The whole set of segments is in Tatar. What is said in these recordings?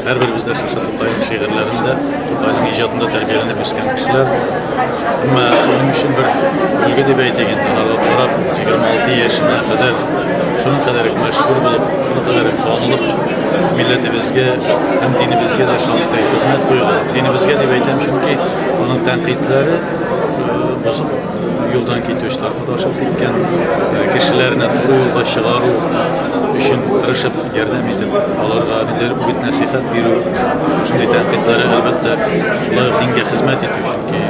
Һәрберебез дә шушы Тукайның шигырьләрендә, Тукайның иҗатында тәрбияләнеп үскән кешеләр. Әмма минем өчен бер үлгән дип әйтик инде, аларга карап, 26 яшенә кадәр шуның кадәр мәшһүр булып, шуның кадәр танылып, милләтебезгә һәм динебезгә дә шундый хезмәт куйган. Динебезгә дип әйтәм, чөнки аның тәнкыйтьләре э, бозык юлдан китүчеләр. Адашып киткән кешеләрне туры юлга чыгару өчен тырышып ярдәм итеп, аларга ниндидер үгет-нәсихәт бирү, шушындый тәнкыйтьләре, әлбәттә, шулай ук дингә хезмәт итү, чөнки э,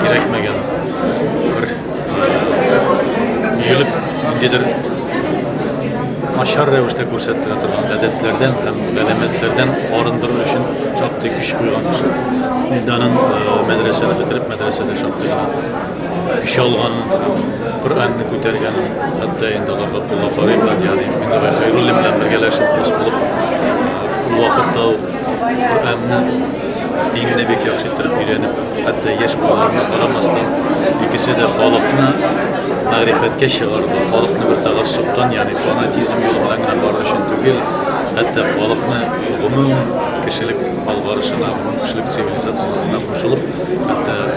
кирәкмәгән бер өелеп, э, ниндидер начар рәвештә күрсәттерә торган гадәтләрдән һәм галәмәтләрдән арындыру өчен шактый көч куйган кеше. Данын э, мәдрәсәне бетереп, мәдрәсәдә шактый Көч алган, Коръәнне күтәргән, хәтта инде аларга Кулла Фарый белән, ягъни Мингәрәй Хәйруллин белән бергәләшеп дус булып, ул вакытта ук Коръәнне, динне бик яхшы иттереп өйрәнеп, хәтта яшь булганына карамастан, икесе дә халыкны мәгърифәткә чыгарды, халыкны бер тәгассубтан, ягъни фанатизм юлы белән генә бару өчен түгел, хәтта халыкны гомум кешелек алгарышына, гомум кешелек цивилизациясенә кушылып, хәтта